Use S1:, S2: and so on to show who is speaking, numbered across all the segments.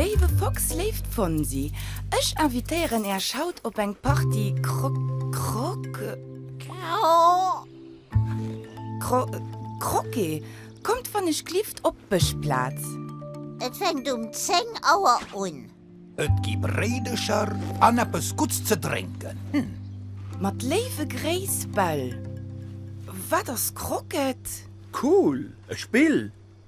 S1: Léiwe Fox, léift Fonsi, ech invitéieren Äech haut op eng Partie Kro-Kroke. Cro Croque, kommt wann ech glift op d'Bëschplaz. Et
S2: fänkt um 10 Auer un. Et gi
S3: Bréidecher an eppes Gutts ze drénken. Mat
S1: léiwe Gréiss, Bell. Wat ass Croquet? Cool,
S4: e Spill!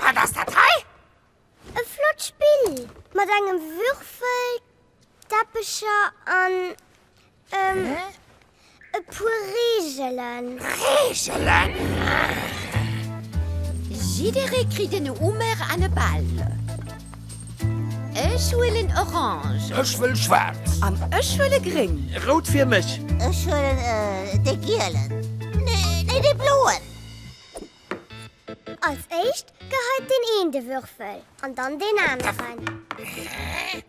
S2: Wat ass dat hei? E
S5: flott Spill mat engem Würfel, Teppecher an ähm, e puer Reegelen. Reegelen?
S6: Jidderee kritt en Hummer an e Ball. Ech huelen orange. Ech wëll schwaarz.
S3: An ech huele
S1: gréng. Rout fir mech.
S4: Ech huelen
S2: de gielen. Nee, dee bloen.
S5: Als éischt geheit deen een de Würfel an dann deen aneren.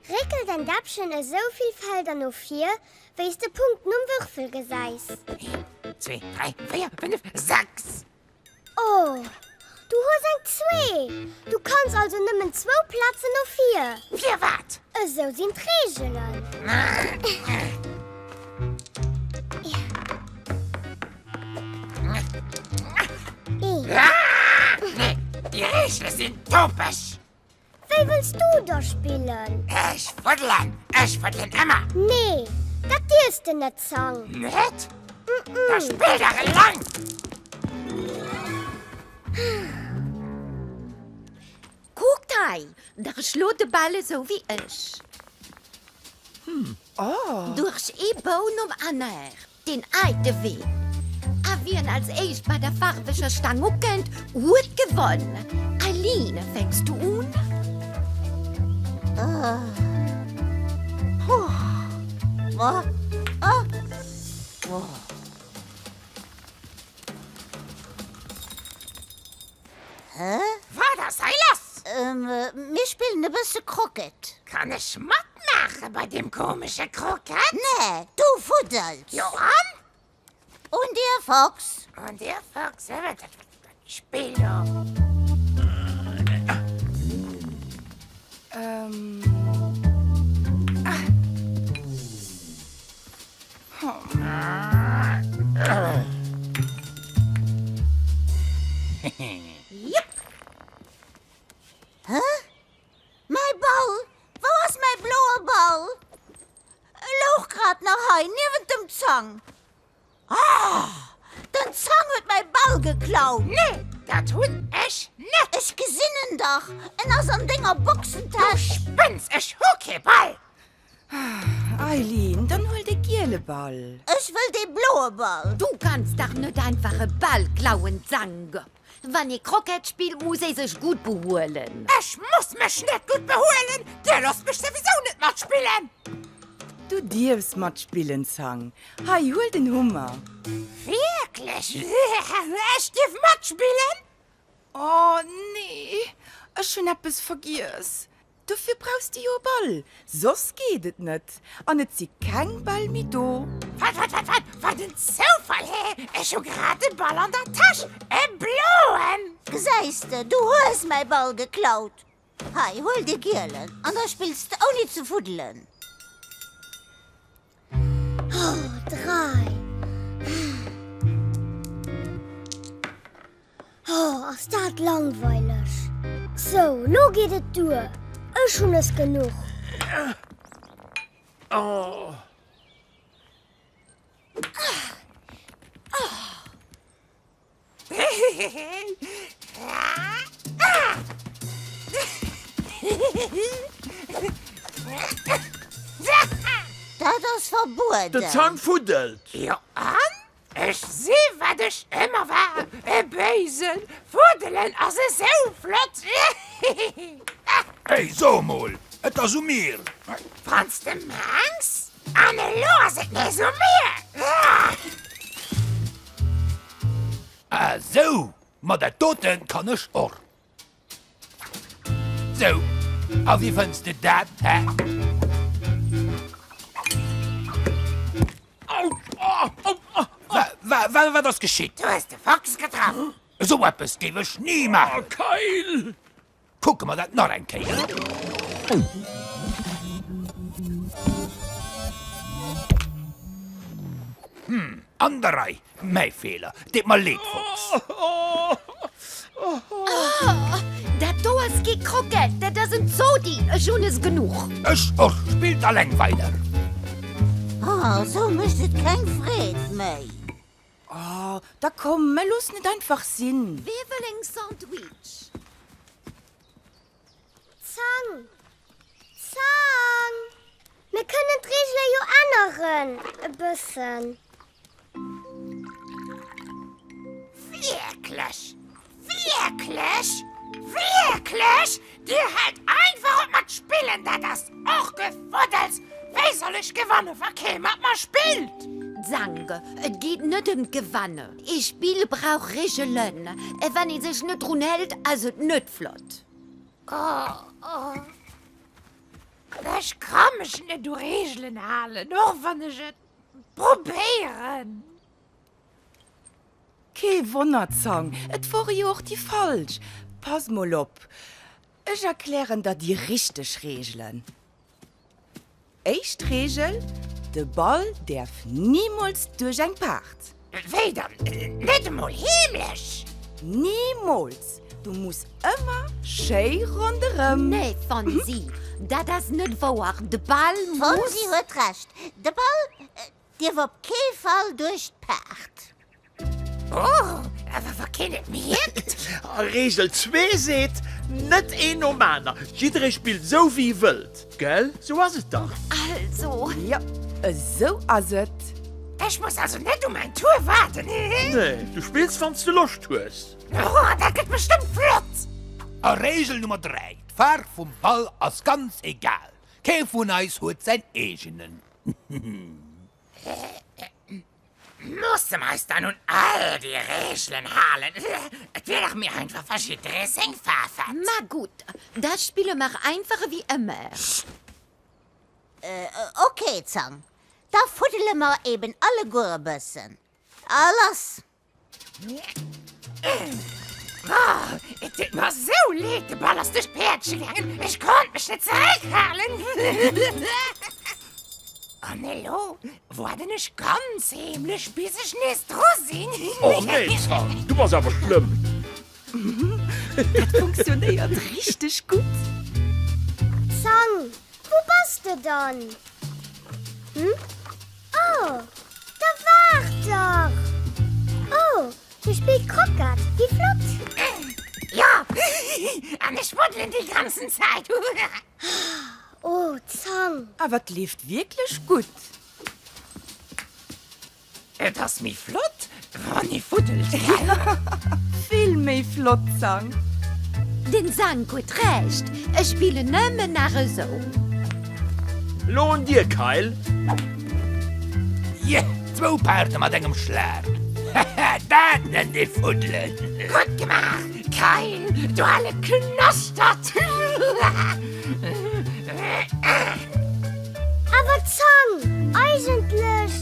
S5: Réckel däin Däppchen esou vill Felder no vir, wéi s de Punkten um Würfel gesäis. Een, zwee,
S2: dräi, véier, fënnef, sechs! Oh,
S5: du hues eng Zwee! Du kanns also nëmmen zwou Plazen no vir. Firwat?
S2: Esou sinn
S5: d'Reegelen.
S2: Nee, déi Reegele sinn topeg! Wéi wëlls
S5: du da spillen? Ech fuddelen!
S2: Ech fuddelen ëmmer! Nee,
S5: dat dierfs de net, Zang! Net?
S2: Da spill dach eleng!
S6: Kuckt hei, der schloot de Bal esou wéi ech. Duerch ee Bou nom aneren. Deen alte Wee. A wien als éischt bei der faarweger Staang ukënnt, huet gewonn. Eileen, fänks du un?
S2: Hä? Wat ass hei lass? Ähm, mir spillen e bësse Croquet. Kann ech matmaache bei deem komesche Croquet? Nee, du fuddels! Jo, an? Un dir, Fox! Un dir, Fox! Hei wat dat Spill do! Ähm.
S6: Jep!
S2: Hä? Mäi Ball? Wou ass mäi bloe Ball? E louch grad nach hei niewent dem Zang. Oh! Den Zang huet mäi Ball geklaut! Nee, dat hunn ech net! Ech gesinn en dach, en ass an denger Boxentäsch! Du spënns, ech hu kee Ball! Eileen,
S1: dann huel de giele Ball. Ech wëll dee bloe
S2: Ball. Du kanns dach net
S6: einfach e Ball klauen, Zange. Wann ee Croquette spillt, muss ee sech gutt behuelen. Ech muss mech
S2: net gutt behuelen, dir loosst mech souwisou net matspillen. Du
S1: dierfs matspillen, Zange. Hei, huel den Hummer. Wierklech?
S2: Ech dierf matspillen? Oh,
S1: nee, ech hunn eppes vergiess. Dofir brauchs de jo e Ball, soss geet et net. An et si keng Bäll méi do. Wat, wat, wat, wat, wat
S2: en Zoufall! Hä? Ech hu grad e Ball an der Täsch, e bloen! Gesäis de, du hues mäi Ball geklaut. Hei, huel de gielen, an da spills de ouni ze fuddelen. Oh,
S5: dräi. Oh, ass dat langweileg. So, lo geet et duer. Ech hunn es genuch.
S4: Oh.
S2: Dat ass verbueden! Den Zang fuddelt!
S4: Jo an?
S7: Ech si wat ech ëmmer war, e Béisen! Fuddelen ass esou flott! Hey,
S3: so emol, et ass u mir! Wann s de
S7: mengs! An elo ass et nees u mir!
S3: Ah sou, ma dat doten kann ech och. Sou, a wéi fënns de dat, hä? Wa, wat ass geschitt? Du hues de Fox
S7: getraff! Sou eppes géif
S3: ech ni maachen! Keil!
S4: Kucke mer
S3: dat nach eng Kéier. Hm, an der Rei. Mäi Feeler, deet mer leed, Fox.
S6: Dat do ass kee Croquette, dat ass en Zodi. Ech hunn es genuch. Ech och.
S3: Spillt alleng weider.
S2: Ah, esou mécht et keng Freed méi. Oh,
S1: da komm, mä loossen et einfach sinn. Wee wëll en Sandwich?
S5: Zang! Zang! Mir kënnen d'Reegele jo änneren, e bëssen.
S7: Wierklech? Wierklech? Wierklech? Dir hält einfach op mat spillen, dat ass och Gefuddels! Wéi soll ech gewanne wa kee mat mer spillt? Zange, Et
S6: geet net ëm d'Gewanne. Ee Spill brauch Regelen. A wann ee sech net drun hält, ass et net flott.
S7: Ech ka mech net u Regelen halen, och wann ech et probéieren.
S1: Kee Wonner Zang, et wore jo och déi falsch. Pass mol op, ech erklären der déi richteg Reegelen. Éischt Reegel, de Ball däerf nimools duerch eng Paart. Wéi dann,
S7: net emol heemlech? Nimools,
S1: du muss ëmmer schéi ronderëm. Nee Fonsi,
S6: dat ass net wouer, de Ball muss. Fonsi huet Recht,
S2: de Ball. Dierf op kee Fall duerch d'Paart. Oh,
S7: awer wa keen et mierkt! A Reegel
S4: zwee seet, Net een nom aner, jidderee spillt esou wéi e wëllt. Gell? Esou ass et dach. Also. Jo,
S1: esou ass et. Ech muss also
S7: net u mäin Tour waarden, hehe? Nee, du
S4: spills wann s de Loscht hues. Oh, dat gëtt
S7: bestëmmt flott! A Reegel Nummer dräi,
S3: D'Faarf vum Ball ass ganz egal, kee vun eis huet säin eegenen.
S7: Musse mer eis dann un all déi Regelen halen? Et wier dach méi einfach, wa jidderee seng Faarf hätt. Ma gutt,
S6: da spille mer einfach ewéi ëmmer.
S2: Okay, Zang, da fuddele mer eben alleguer e bëssen. A lass! Brrr,
S7: et deet mer esou leed, de Ball ass duerch d'Päerdche gaangen, ech konnt mech net zeréckhalen. An elo waarden ech ganz heemlech, bis ech nees dru sinn. Och nee,
S4: Zan, du bass awer schlëmm! Dat
S1: funktionéiert richteg gutt!
S5: Zan, wou bass de dann? Hm? Oh, da waart dach! Oh, hie spillt Croquet, wéi flott! Jo,
S7: an ech woddelen déi ganzen Zäit.
S5: Oh, Zang! Awer 't leeft
S1: wierklech gutt!
S7: Et ass méi flott, Ronny Fuddelkeller,
S1: vill méi flott Sang. Den
S6: Sank huet Recht, ech spillen nëmmen nach esou.
S4: Lo un dir Kyle!
S3: Yeah, zwou Paarte mat engem Schlag! Haha, dat nennt ee fuddelen! Gutt gemaach,
S7: Kyle, du ale Knastert!
S5: Awer d'Zang eigentlech!